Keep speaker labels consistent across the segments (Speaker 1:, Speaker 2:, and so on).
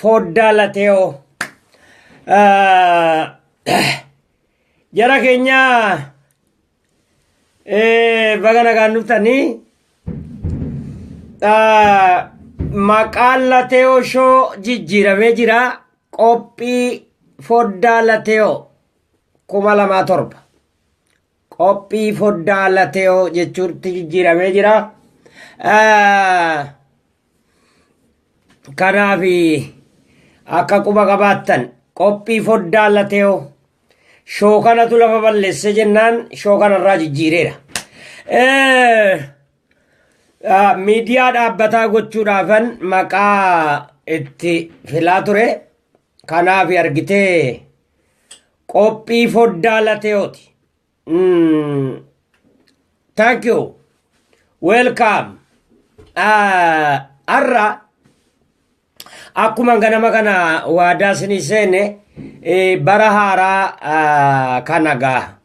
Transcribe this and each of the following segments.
Speaker 1: fooddaa lateeoo jara keenya baga nagaan dhuftanii maqaan lateeoo shoo jijjiiramee jira qophii fooddaa lateeoo kuma lamaa torba Qophii foddaa lateeyoo jechuutti jijjiiramee jira. Kanaaf akka quba qabaattan qophii foddaa lateeyoo shoo kanatu lafa balleesse jennaan shoo kanarraa jijjiireera. Miidiyaa dhaabbataa gochuudhaafan maqaa itti filaa ture. Kanaaf argitee Qophii foddaa lateyooti. Mm. Thank you. Welcome. Ah, Har'a akkuma ganama kana waadaa isinii seene eh, bara haaraa ah, kana gaa.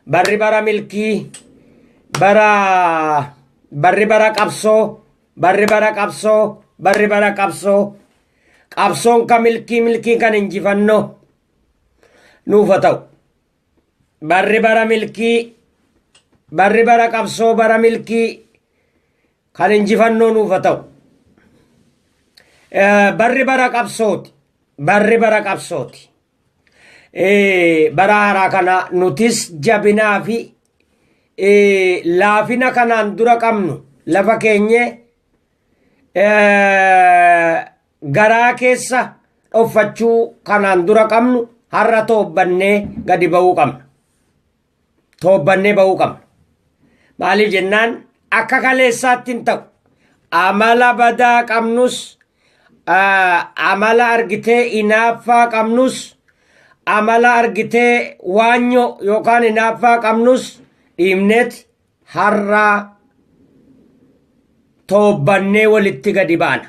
Speaker 1: Barri bara milkii, bara barri bara qabsoo, barri bara qabsoo, barri bara qabsoo. Qabsoon ka milkii, milkiin kan injifannoo. nuuf haa ta'u. Barri bara milkii, barri bara qabsoo bara milkii kan injifannoo nuuf haa ta'u. Eh, Barri bara qabsooti, barri bara qabsooti. Eh, Bara haaraa kana nutis jabinaa fi eh, laafina kanaan dura qabnu lafa keenyee eh, Garaa keessa dhoffachuu kanaan dura qabnu har'a toobbannee gadi ba'uu qabna. Toobbannee ba'uu qabna. Maaliif jennaan akka kaleessaatti hin ta'u. Amala badaa qabnus amala argitee inaaffaa qabnus amala argitee waanyoo yookaan inaaffaa qabnus dhiibneeti har'aa toobbannee walitti gadi baana.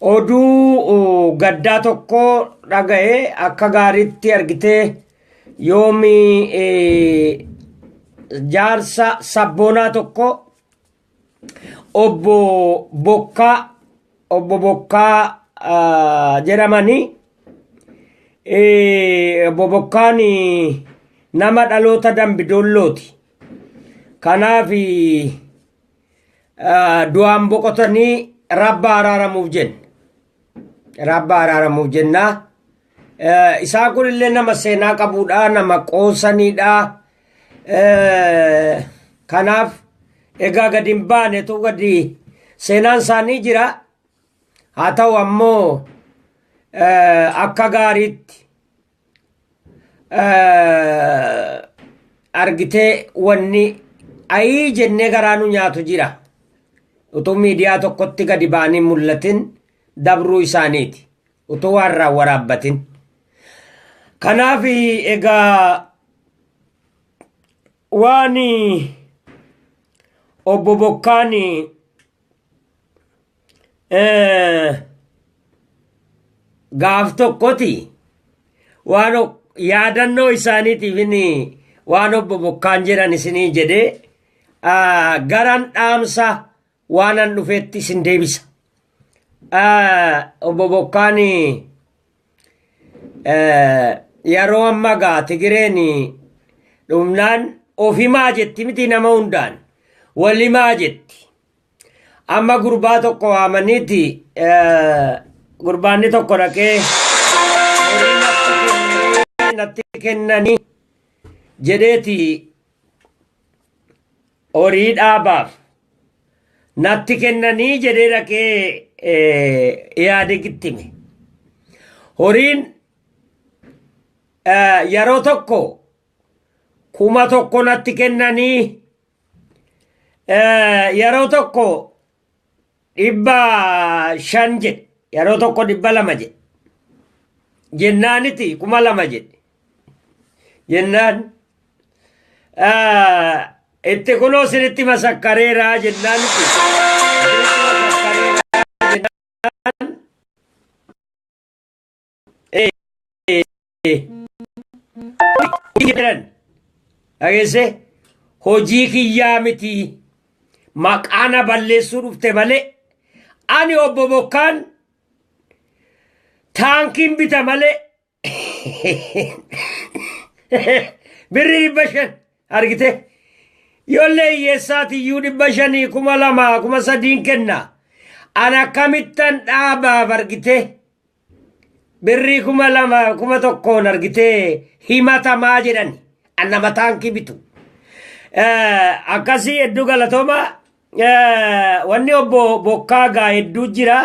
Speaker 1: Oduu gaddaa tokko dhaga'e akka gaariitti argitee yoomi jaarsa sabboonaa tokko obbo Bokkaa obbo Bokkaa jedhamanii obbo Bokkaan nama dhaloota dambidoollooti. Kanaaf ah, du'aan boqotanii rabba araaramuuf jenne rabba araaramuuf jennaa Eh, isaa kun illee nama seenaa qabuudha nama qoosaniidha Eh, kanaaf egaa gadi hin baane tu gadi seenaan isaanii jira haa ta'u ammoo eh, akka gaariitti argitee wanni ayii jennee garaa nu nyaatu jira utuu miidiyaa tokkotti gadi baanii mul'atin dabruu isaaniiti utuu waan irraa waraabbatin kanaaf egaa waan obbo Bokkaan gaaf tokkoti waan yaadannoo isaaniitiif inni waan obbo Bokkaan jedhan isinii jedhee garan dhaamsa waanan dhufetti isin deebisa. Obbo Bokkaan Yeroo amma gaa Tigireen dhumnaan ofimaa jetti miti nama hundaan walimaa jetti. Amma gurbaa tokko waamaniiti gurbaanni tokko dhaqee natti kennanii jedheeti horii dhaabaaf natti kennanii jedhee dhaqee Ihaadegitti hime. Horiin yeroo tokko kuma tokko natti kennanii yeroo tokko dhibba shan jedhe yeroo tokko dhibba lama jedhe jennaaniti kuma lama jedhe jennaan itti kunoo sinitti masakkareeraa jennaaniti jedhan dhageesse hojii kiyyaa miti maqaana balleessuu dhufte malee ani obbo Bokkaan taankiin bita malee birri dhibba shan argite ijoollee hiyyeessaatiyyuu dhibba shanii kuma lamaa kuma sadiin kenna an akkamittan dhaabaaf argite birrii kuma lama kuma tokkoon argitee himatamaa jedhan anna mataan kibitu akkasii hedduu galatooma wanni obbo bokkaa gaa hedduu jira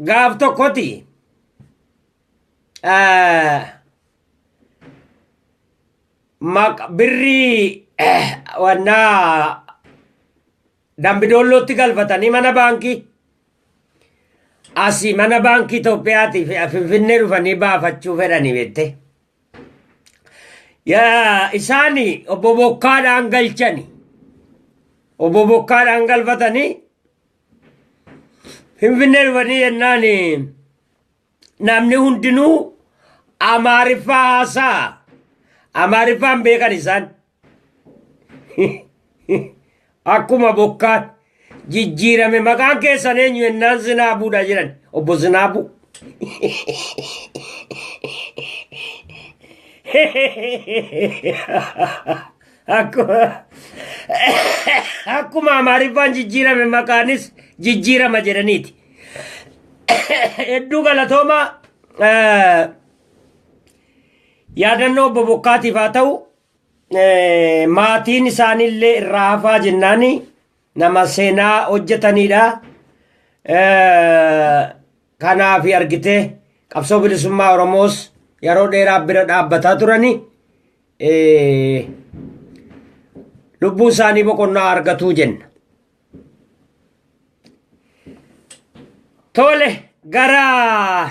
Speaker 1: gaaf tokkoti Maq birrii wannaa dambidoollootti galfatanii mana baankii asii mana baankii Itoophiyaatii fi Finfinnee dhufanii baafachuu fedhanii beektee. Yaa isaani obbo Bokkaadhaan galchani. Obbo Bokkaadhaan galfatanii Finfinnee dhufanii jennaan namni hundinuu amaariffaa haasaa amaariffaan beekan isaan akkuma bokkaan jijjiirame maqaan keessan eenyu jennaan zinaabuudha jedhan obbo zinaabuu Akkuma Amaariffaan jijjiirame maqaanis jijjiirama jedhaniiti. Hedduu galatoomaa yaadannoo obbo Bokkaatiif haa ta'u maatiin isaaniillee irraa hafaa jennaanii nama seenaa hojjetaniidha. Kanaaf argitee qabsoo bilisummaa Oromoos yeroo dheeraa bira dhaabbataa turani lubbuu isaanii boqonnaa argatuu jenna. Tole gara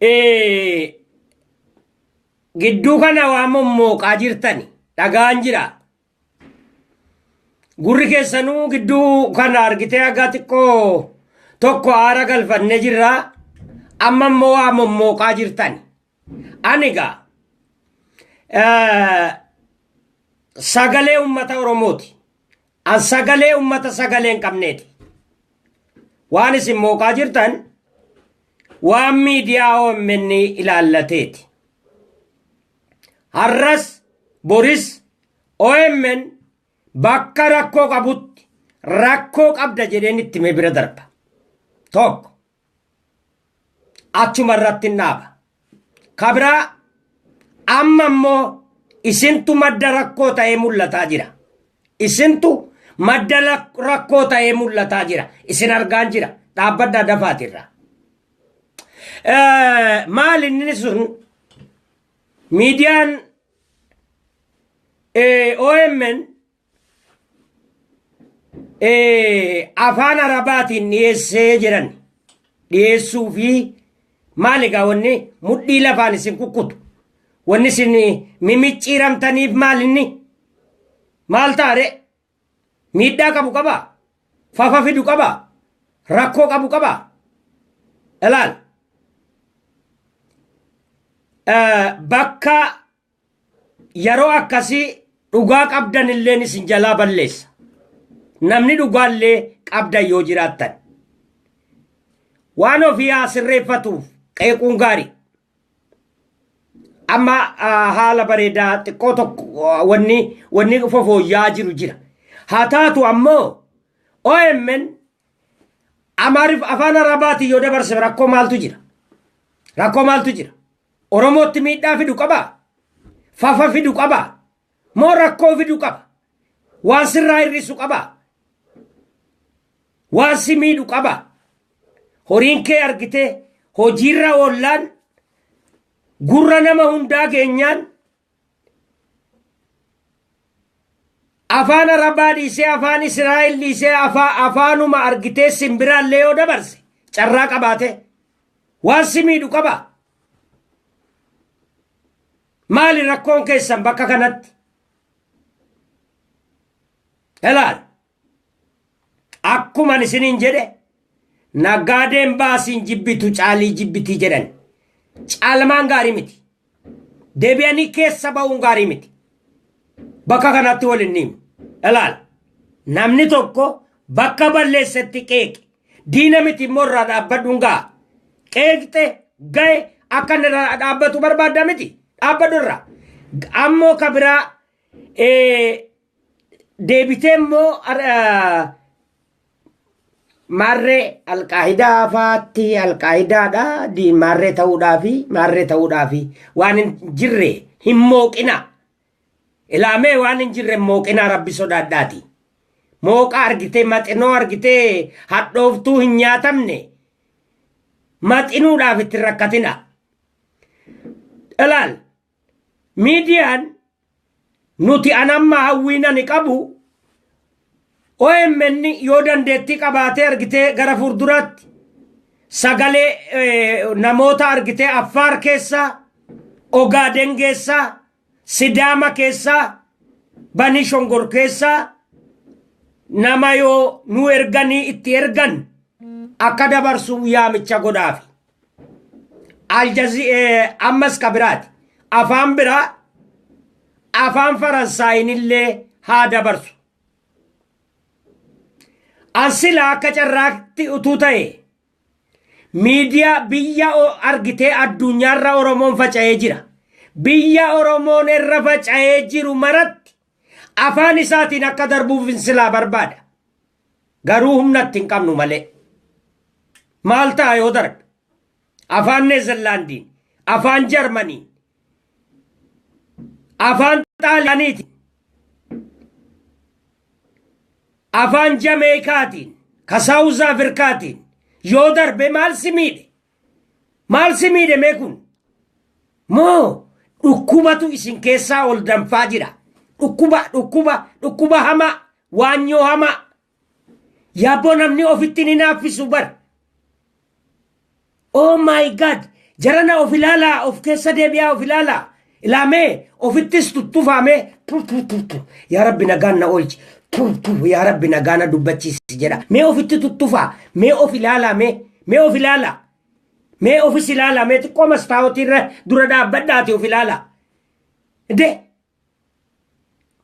Speaker 1: Eh, Gidduu kana waan mommooqaa jirtani dhagaan jira. Gurri keessanuu gidduu kana argitee hagaa xiqqoo tokko aara galfannee jirra. Amma immoo waa mommooqaa jirtani. Ani egaa eh, sagalee uummata Oromooti. An sagalee uummata sagalee hin qabneeti. Waan isin mooqaa jirtan waan miidiyaa OMN ilaallateeti. Har'as boris OMN bakka rakkoo qabutti rakkoo qabda jedheen itti mee bira darba. Tokko. achuma irratti hin dhaaba. Ka biraa amma immoo isintu madda rakkoo ta'ee mul'ataa jira. Isintu madda lak- rakkoo ta'ee mul'ataa jira. Isin argaan jira. Dhaabbadhaa dafaatirra. Eh, Maal inni sun miidiyaan eh, OMN eh, afaan arabaatiin dhiyeessee jedhan dhiyeessuu fi maali egaa wanni mudhii lafaan isin kukkutu wanni isin mimicciiramtaniif maalinni maal taare miidhaa qabu qaba fafa fidu qaba rakkoo qabu qaba ilaal Eh, bakka Yeroo akkasii dhugaa qabdan illeen isin jalaa balleessa. Namni dhugaa illee qabdan yoo jiraattan. Waan ofii haa sirreeffatuuf qeequun gaarii. Amma haala bareedaa xiqqoo tokko wanni wanni fofooyyaa jiru jira. Haa taatu ammoo OMN Amaarif afaan Arabaatiin yoo dabarse rakkoo maaltu jira? Rakkoo maaltu jira? Oromootti miidhaa fidu qabaa? Fafa fidu qabaa? Moo rakkoo fidu qaba? Waan sirraa hir'isu qabaa? Waan si miidhu qabaa? Horiin kee argitee hojiirra oollaan gurra nama hundaa geenyaan afaan arabaa dhiisee afaan israa'el dhiisee afaa afaanuma argitee simbiraallee yoo dabarse carraa qabaate waan si miidhu qaba maali rakkoon keessan bakka kanatti ilaal Akkuman isiniin jedhe nagaadeen baasiin jibbitu caalii jibbiti jedhan. Caalmaan gaarii miti. Deebi'anii keessa ba'uun gaarii miti. Bakka kanatti wal hin himu. Ilaal. Namni tokko bakka balleessetti qeeqe. Diina miti immoo irraa dhaabbadhuun ga'a. Qeeqxe ga'e akka inni irraa dhaabbatu barbaadda miti. Dhaabbadhu irraa. Ammoo ka biraa deebitee immoo maarree alqaahidaa faatti alqaahidaadha maarree ta'uudhaafi maarree ta'uudhaafi waan hin jirre hin mooqina ilaamee waan hin jirre mooqinaa rabbi sodaadhaati mooqa argitee maxinoo argitee hadhooftuu hin nyaatamne maxinuudhaaf itti rakkatina ilaal Miidiyaan nuti an amma hawwiin ani qabu OMN yoo dandeettii qabaatee argitee gara fuulduraatti sagalee eh, namoota argitee Affaar keessaa, Ogaaden keessaa, Sidaama keessaa, Banii Shongor keessaa nama yoo nu erganii itti ergan akka dabarsu yaamicha godhaafi. Aljazi ammas ka biraati. Afaan biraa afaan Faransaayinillee haa dabarsu. An silaa akka carraatti utuu ta'e miidiyaa biyya o- argitee addunyaarra Oromoon faca'ee jira. Biyya Oromoon irra faca'ee jiru maratti afaan isaatiin akka darbuuf silaa barbaada. Garuu humna itti hin qabnu malee. Maal ta'a yoo darbe? Afaan Neezerlaandiin, afaan Jarmaniin, afaan Xaaliyaaniitiin, afaan Jameekaatiin, ka Saawuz Afrikaatiin yoo darbe maal si miidhe? Maal si miidhe mee kun? Moo dhukkubatu isin keessaa ol danfaa jira? Dhukkuba, dhukkuba, dhukkuba hamaa, Waanyoo hamaa. Yaabboo namni ofittiin hin haaffisu bar. Oh my god. Jarana of ilaalaa of keessa deebi'aa of ilaalaa. Ilaamee ofittis tuttufaamee tu tu tu tu. Yaa rabbi nagaan na oolchi. Tu tu yaa rabbi nagaa na dubbachiisi jedha. Mee ofitti tuttufaa. Mee of ilaalaa mee. Mee of ilaalaa. Mee ofis ilaalaa mee xiqqoo mastaawotii irra dura dhaabbadhaati of ilaalaa. De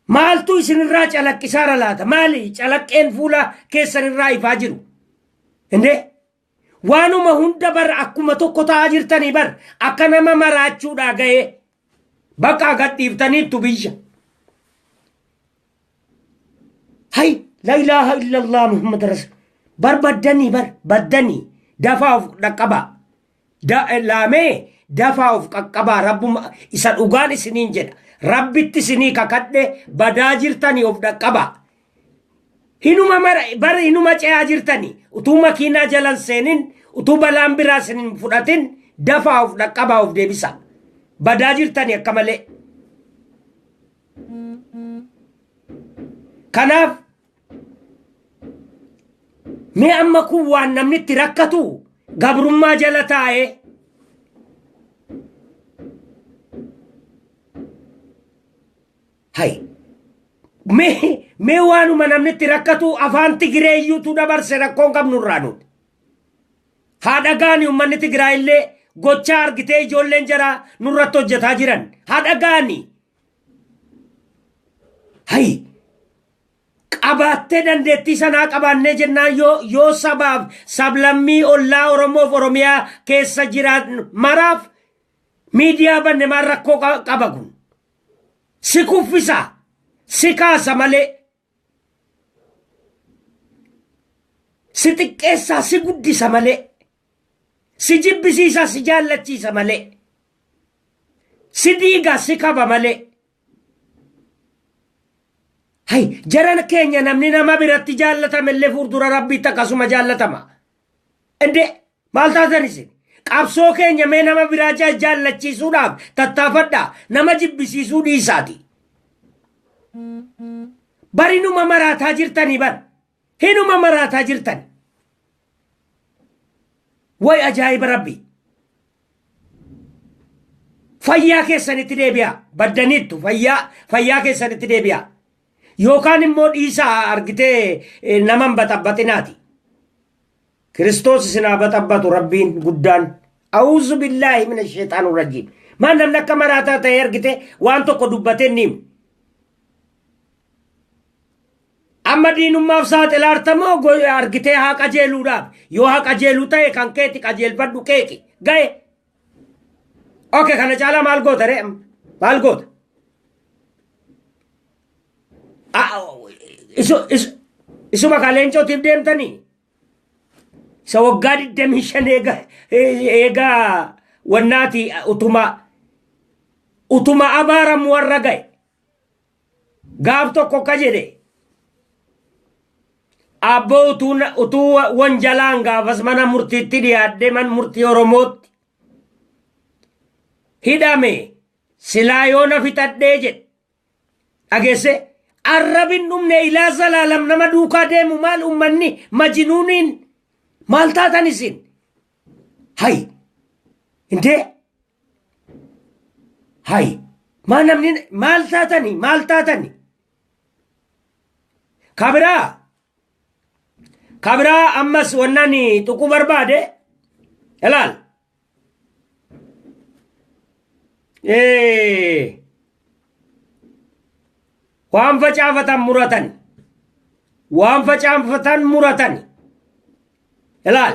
Speaker 1: Maaltu isin irraa calaqqisaara laata? Maali calaqqeen fuula keessan irraa ifaa jiru? Indee waanuma hunda bar akkuma tokko ta'aa jirtanii bar akka nama maraachuudhaa ga'ee bakka gadhiiftaniittu biyya. Hay la ilaaha illallah Muhammad Rasul. Bar baddanii bar baddanii dafaa of dhaqqabaa. Da- eh, Laamee dafaa of qaqqabaa rabbuma isa dhugaan isiniin jedha. Rabbitti isinii kakadhe badaa jirtanii of dhaqqabaa. Hinuma mara bara hinuma ce'aa jirtanii utuu makiinaa jalan seenin utuu balaan biraa isin hin fudhatin dafaa of dhaqqabaa of deebisaa. Badaa jirtanii akka malee. Kanaaf Mee amma kun waan namni itti rakkatu gabrummaa jala taa'ee hay mee mee waanuma namni itti rakkatu afaan Tigiree iyyuutu dabarse rakkoon qabnurraa nuti. Haa dhagaani uummanni Tigiraa illee gochaa argitee ijoolleen jaraa nurratti hojjetaa jiran. Haa dhagaani. Hay qabaattee dandeettii sanaa qabaannee jennaan yoo yoo sabaaf sablammii ollaa Oromoof Oromiyaa keessa jiraatan maraaf miidiyaa banne maal rakkoo qa- qaba kun si kuffisa si kaasa malee si xiqqeessaa si guddisa malee si jibbisiisaa si jaallachiisa malee si diigaa si kaba malee Hay jaran keenya namni nama biratti jaallatame illee fuuldura rabbiitti akkasuma jaallatama. Indee maal taatan isin? Qabsoo keenya mee nama biraa jaa- jaallachiisuudhaaf tattaafadhaa nama jibbisiisuu dhiisaati. Barinuma maraataa jirtanii bar. Hinuma maraataa jirtan. Way ajaa'iba rabbi. Fayyaa keessanitti deebi'aa. Baddaniittu fayyaa fayyaa keessanitti deebi'aa. Yookaan immoo dhiisaa argitee eh, nama hin baxabbaxinaati. Kiristoos isin haa baxabbatu rabbiin guddaan. A'uuzu billaahi mina sheexaan urrajiim. Maan namni akka maraataa ta'e argite waan tokko dubbatee ni himu. Amma diinummaaf saaxilaarta moo go- argitee haa qajeeluudhaaf? Yoo haa qajeeluu ta'e kan keeti qajeelfadhu qeeqi. Ga'e. Oke kana caalaa maal goota ree? amma? Maal goota? Ah, isu- isu- Isuma kaa leencootiif deemtanii? isa waggaa 25 eega eega wannaati utuma utuma abaaramu warra ga'e Gaaf tokko akka jedhe abboo utuu na- utuu wa- wanjalaan gaafas mana murtiitti dhiyaadhee man murtii Oromootti hidhame silaa yoo na fixadhee jedhe dhageesse arrabin dhumne ilaa zalaalam nama duukaa deemu maal ummanni majinuuniin maal taatan isin hay intee Hay maa namni maal taatani maal taatani kabiraa kabiraa ammas wannani tuquu barbaade ilaal Eh, waan facaafatan muratan waan facaafatan muratan ilaal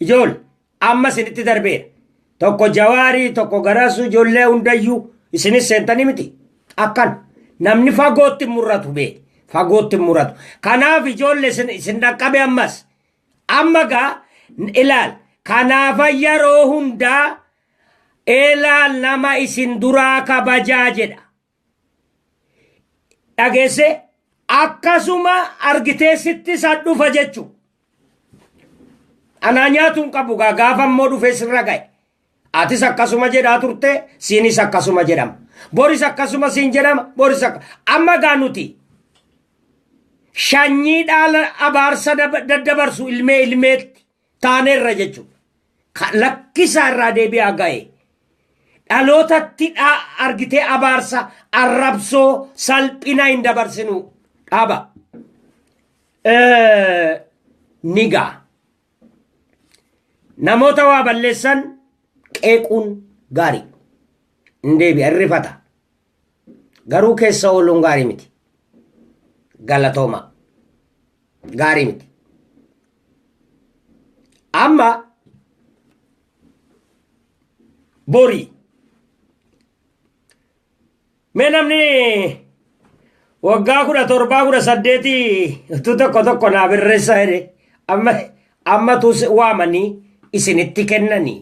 Speaker 1: Ijool amma isinitti darbeera. Tokko jawaarii tokko garasuu ijoollee hundayyuu isinis seentanii miti. Akkan namni fagootti hin murratu bee fagootti hin murratu. Kanaaf ijoollee isin isin dhaqqabe ammas. Amma gaa ilaal kanaafa yeroo hundaa ilaal nama isin duraa kabajaa jedha. dhageessee akkasuma argitee sitti isa dhufa jechu anaa nyaatu hin qabu gaa gaafa immoo dhufee sirra ga'e atis akkasuma jedhaa turte siinis akkasuma jedhama boris akkasuma siin jedhama boris akka amma gaa nuti shanyii dhaala abaarsa dab- daddabarsu ilmee ilmeetti taaneerra jechuudha. Ka- Lakkisaa irraa deebi'aa ga'e. Dhalootatti dhaa argitee abaarsa arrabsoo salphina hin dabarsinu dhaaba. Eh, Ni ga'a. Namoota waa balleessan qeequun gaarii. Hin deebi'a, hin rifata. Garuu keessa ooluun gaarii miti. Galatoomaa. Gaarii miti. Amma borii mee namni waggaa kudha torbaa kudha saddeetii utuu tokko tokko naa birreessa jedhe amma ammatu waamanii isinitti kennanii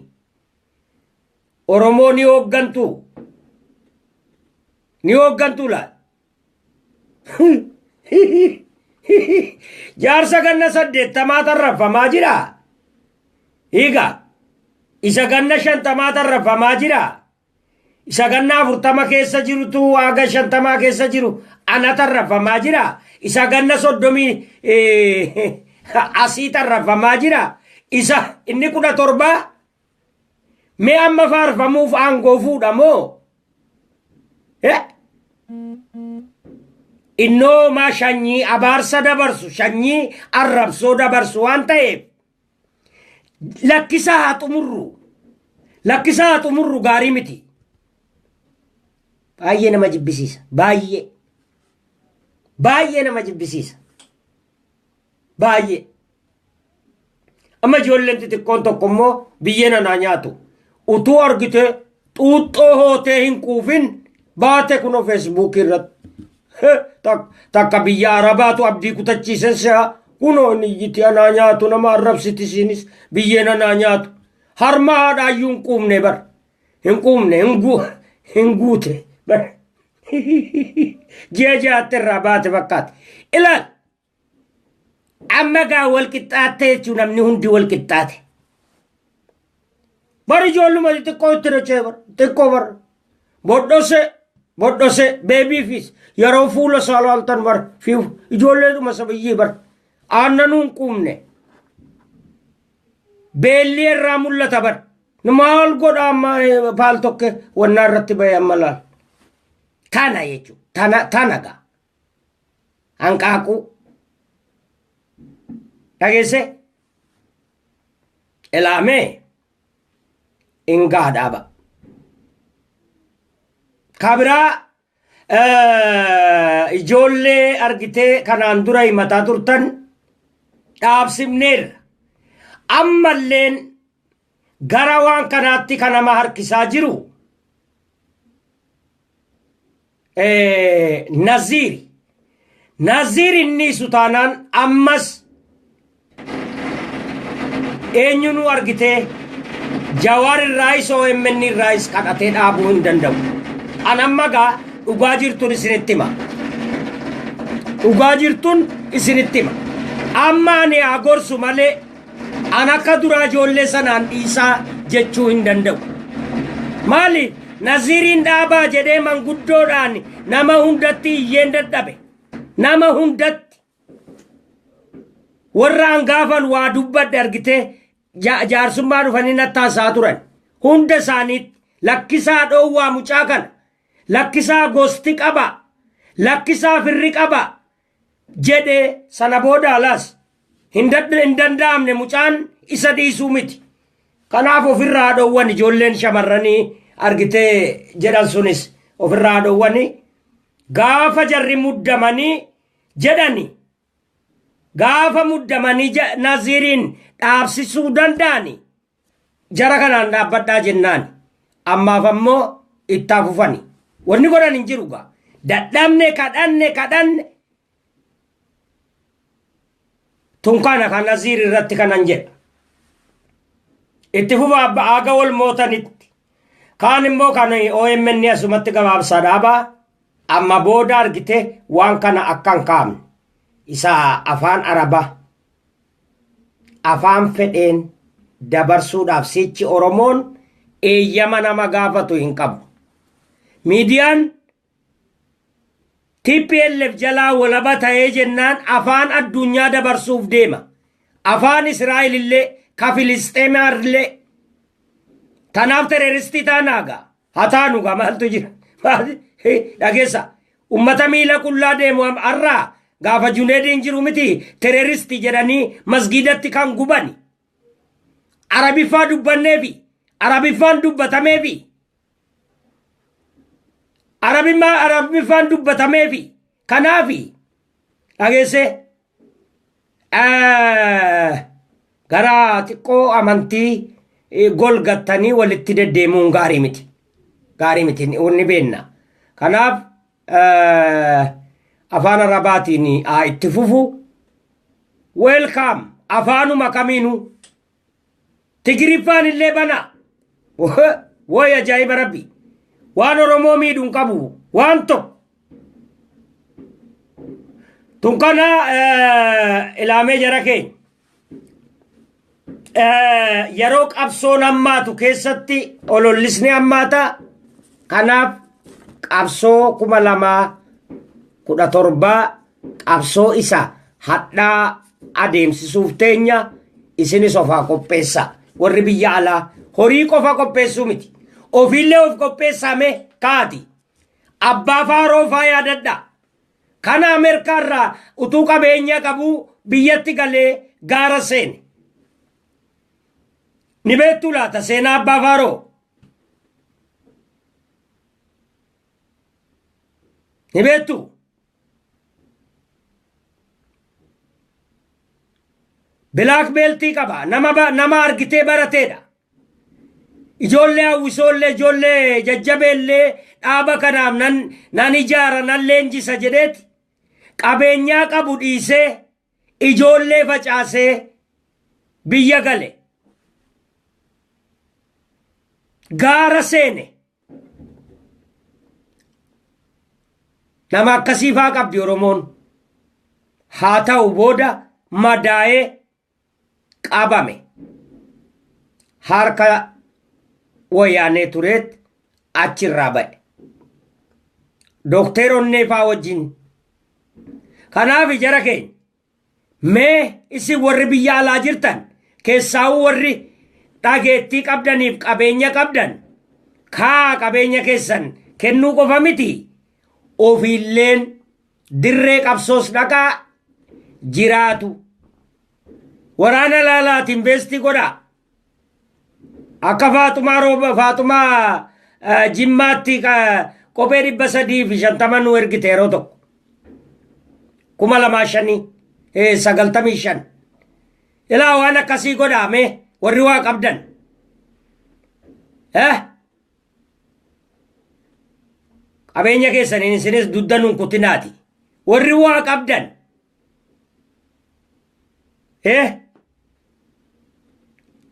Speaker 1: Oromoo ni hooggantuu? Ni hooggantuu laal? Jaarsa ganna saddeettamaa tarrafamaa jira. Hiika. Isa ganna shantamaa tarrafamaa jira. Isa ganna afurtama keessa jirutu waaga shantamaa keessa jiru ana tarrafamaa jira. Isa ganna soddomii eh, asii tarrafamaa jira. Isa inni kudha torbaa Mee amma faarfamuuf aangoo fuudha moo? Eh? Innoo maa shanyii abaarsa dabarsu, shanyii arrabsoo dabarsu waan ta'eef lakkisaa haa xumurru. Lakkisaa haa xumurru gaarii miti. Baay'ee nama jibbisiisa. Baay'ee. Baay'ee nama jibbisiisa. Baay'ee. Amma ijoolleen xixiqqoon tokko immoo biyyeen anaa nyaatu. Utuu argite xuuxxoo hootee hin quufin baate kunoo feesbuukii irratti. Takka biyya Arabaatu abdii kutachiisen si'a kunoo inni iyyiti anaa nyaatu nama arrabsiti isiinis biyyeen anaa nyaatu. Harma haadhaayyuu hin quufne bar. Hin quufne hin guute bar. Ji'a ja'atti irraa baate fakkaate. Ilaal! Amma gaa wal qixxaatte jechuun namni hundi wal qixxaate. Bar ijoolluma xixiqqoo itti dachee bar xiqqoo bar bodhose bodhose beebiifis yeroo fuula isaa laaltan bar fi ijoolleedhuma sabayyii bar aannanuun quumne beelli irraa mul'ata bar maal godha amma paal tokke wannaa irratti ba'e amma laal tana jechuudha tana tana gaa. hanqaaquu dhageessee ilaamee ingaa dhaaba kabiraa ijoollee argitee kanaan dura himataa turtan dhaabsifneerra ammalleen gara waan kanaatti kan nama harkisaa jiru Eh, Naziiri. Naziiri inni isu taanaan ammas eenyu nu argitee jawaar irraayis OMN irraayis kadhatee dhaabuu hin danda'u. An amma gaa dhugaa jirtuun isinitti hima. Dhugaa jirtuun isinitti hima. Amma ani haa gorsu malee An akka duraa ijoollee sanaan dhiisaa jechuu hin danda'u. Maali naziiriin dhaabaa jedhee manguddoodhaan nama hundatti iyyeen dadhabe. Nama hundatti. Warra an gaafan waa dubbadhe argitee ja- jaarsummaa dhufanii nattaasaa turan. Hunda isaaniitti lakkisaa dhoowwaa mucaa kana. Lakkisaa gosti qaba. Lakkisaa firri qaba. jedhe sana booda alaas hin dadda- hin danda'amne mucaan isa dhiisuu miti. Kanaaf ofirraa haa dhowwan ijoolleen shamarranii argitee jedhan sunis ofirraa haa dhowwani. Gaafa jarri muddamanii jedhani gaafa muddamanii ja- naziiriin dhaabsisuu danda'ani Jara kanaan dhaabbadhaa jennaan ammaaf ammoo ittaa fufani. Wanni godhan hin jiru gaa. Dadhabne kadhanne kadhanne. Tun kana kan Naziir irratti kanan jedha. Itti fufa abba aaga wal mootanitti. Kaan immoo kan OMN asumatti gabaabsaa dhaabaa amma booda argite waan kana akkan kaa'amne. Isa afaan arabaa. afaan fedheen dabarsuudhaaf sichi Oromoon eeyyama nama gaafatu hin qabu. Miidiyaan TPLF jalaa walaba ta'ee jennaan afaan addunyaa dabarsuuf deema. Afaan Israa'el illee, ka Filisxeemaa illee. Tanaaf tereeristii taanaa gaa. haa taanu gaa maaltu jira Maali? Hi, dhageessa ummata miila qullaa deemu am- arraa gaafa juneediin jiru miti tereeristi jedhanii masgiidatti kan gubani arabiffaa dubbanneefi arabiffaan dubbatameefi arabimmaa arabiffaan dubbatameefi kanaafi dhageessee gara xiqqoo amantii golgattanii walitti deddeemuun gaarii miti. Gaarii miti ni beenna. Kanaaf afaan arabaatiin haa itti fufu. Weelkaam afaanuma kamiinuu Tigiriffaan illee banaa. Wooy ajaa'iba rabbi. Waan Oromoo miidhu hin qabu. Waan tokko. Tun kana eh, ilaamee jara keenya. Eh, Yeroo qabsoon hammaatu keessatti olollisni hammaata. Kanaaf qabsoo kuma lamaa kudha torbaa qabsoo isa hadhaa adeemsisuuf teenya isinis of haa qopheessaa warri biyya alaa horii qofa qopheessuu miti ofiillee of qopheessaa mee kaati abbaa faaroo faa yaadadhaa kana ameerikaa irraa utuu qabeenya qabuu biyyatti galee gaara seene ni beektuu laata seenaa abbaa faaroo ni beektuu Bilaak beeltii qaba. Nama, ba- nama argitee barateedha. Ijoollee hawwisoollee ijoollee jajjabeellee dhaaba kanaaf nan, nan ijaara nan leenjisa jedheeti qabeenyaa qabu dhiisee ijoollee facaasee biyya gale. Gaara seene. Nama akkasii faa qabdi Oromoon. Haa ta'u booda madaa'ee qabame. Harka wayyaanee tureet achirraa ba'e. Dookteer Onnee faa wajjin. Kanaaf jara keenya. Mee isin warri biyya alaa jirtan keessaa'uu warri dhageettii qabdaniif qabeenya qabdan kaa qabeenya keessan kennuu qofa miti ofiilleen dirree qabsoos dhaqaa jiraatu waraana laalaatiin beestii godhaa Akka Faaxumaa Rooba Faaxumaa eh, Jimmaatti ka- kophee dhibba sadii fi shantama nu ergite yeroo tokko. Kuma lamaa shanii eh, sagaltamii shan. Ilaa waan akkasii godhaame warri waa qabdan. Eh? Qabeenya keessaniin isinis dudda nun kutinaati. Warri waa qabdan. Eh!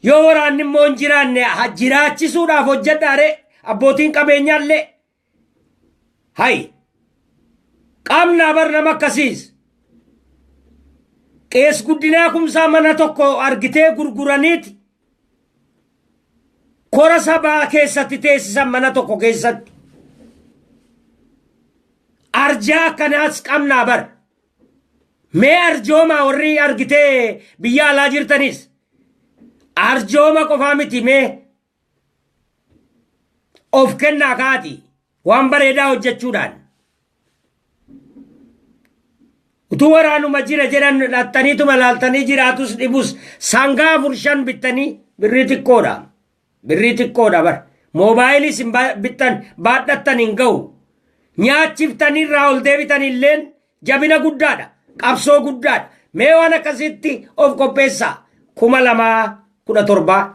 Speaker 1: Yoo waraanni immoo hin jiraanne ha- jiraachisuudhaaf hojjedhaare abbootiin qabeenyaallee hayi qaamnaa bar nama akkasiis qees guddinaa kumsaa mana tokko argitee gurguraniiti kora sabaa keessatti teessisan mana tokko keessatti arjaa akkanaas qabnaa bar mee arjoomaa warri argitee biyya alaa jirtanis arjooma qofaa miti mee of kennaa kaati waan bareedaa hojjechuudhaan Utuu waraanuma jira jedhan dhaxxaniituma laaltanii jiraatus dhibus sangaa afur shan bittanii birrii xiqqoodha. Birrii xiqqoodha bar. Moobaayilii isin ba- bittan baadhattan hin ga'u. Nyaachiftanii irraa ol deebitan illeen jabina guddaadha. Qabsoo guddaadha. Mee waan akkasitti of qopheessaa. Kuma lamaa kudha torbaa.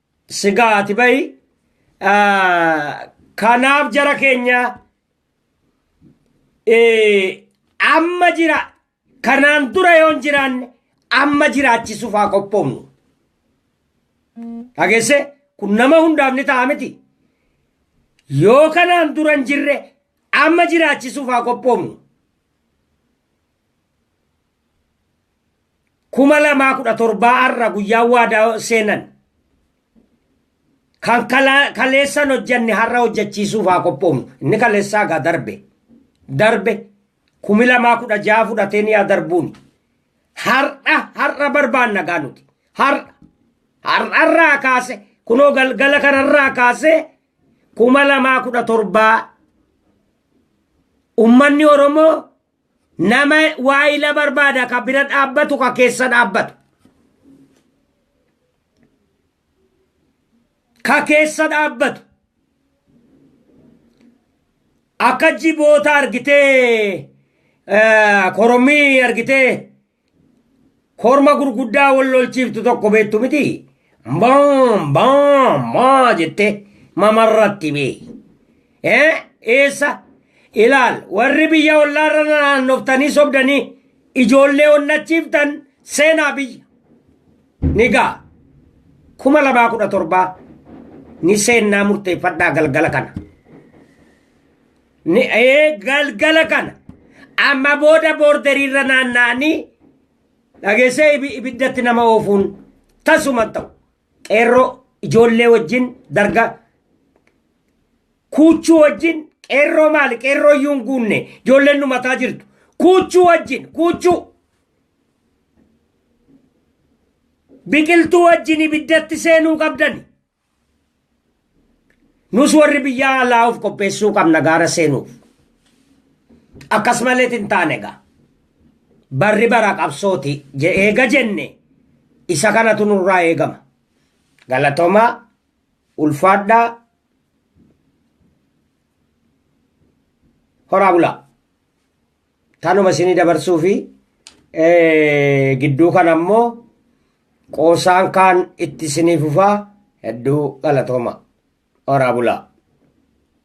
Speaker 1: Sigaa ati bahi. Kanaaf jara keenya amma jira kanaan dura yoo hin jiraanne amma jiraachisuuf haa qophoofnu. Dhageesse kun nama hundaaf ni ta'a miti. Yoo kanaan dura hin jirre amma jiraachisuuf haa qophoofnu. kuma lamaa kudha torbaa arra guyyaa waadaa seenan kan kala- kaleessan hojjanne har'a hojjachiisuuf haa qophoofnu inni kaleessaa gaa darbe darbe kumi lamaa kudha ja'a fudhatee ni haa darbuuni har'a har'a barbaanna gaa nuti har'a har'arraa kaase kunoo galgala kanarraa kaase kuma lamaa kudha torbaa ummanni oromoo Nama waayila barbaada ka bira dhaabbatu ka keessa dhaabbatu. Ka keessa dhaabbatu. Akka jiboota argitee eh, korommii argitee Korma gurguddaa wal lolchiiftu tokko beektu miti. Baam baam baa jettee mamarratti bee. Eh, Eessa? Ilaal warri biyya ollaarra naannoftanii sobdanii ijoollee onnachiiftan seenaa biyya. Ni ga'a. Kuma lamaa kudha torbaa ni seennaa murteeffadhaa galgala kana. Ni ee galgala kana amma booda boorderiirra naanna'anii dhageessee ibi- ibiddatti nama oofuun tasuma hin ta'u. Qeerroo ijoollee wajjin darga kuuchuu wajjin qeerroo maali qeerroo iyyuu hin guunne ijoolleen dhumataa jirtu kuuchuu wajjin kuuchuu biqiltuu wajjin ibiddatti seenuu qabdani. Nus warri biyya alaa of qopheessuu qabna gaara seenuuf. Akkas malee hin taane egaa. Barri bara qabsooti jedhee eega jenne isa kanatu nurraa eegama. Galatomaa ulfaadhaa horaa bulaa. Tanuma isinii dabarsuu fi gidduu kana ammoo qoosaan kaan itti isinii fufaa hedduu galatooma. Horaa bulaa.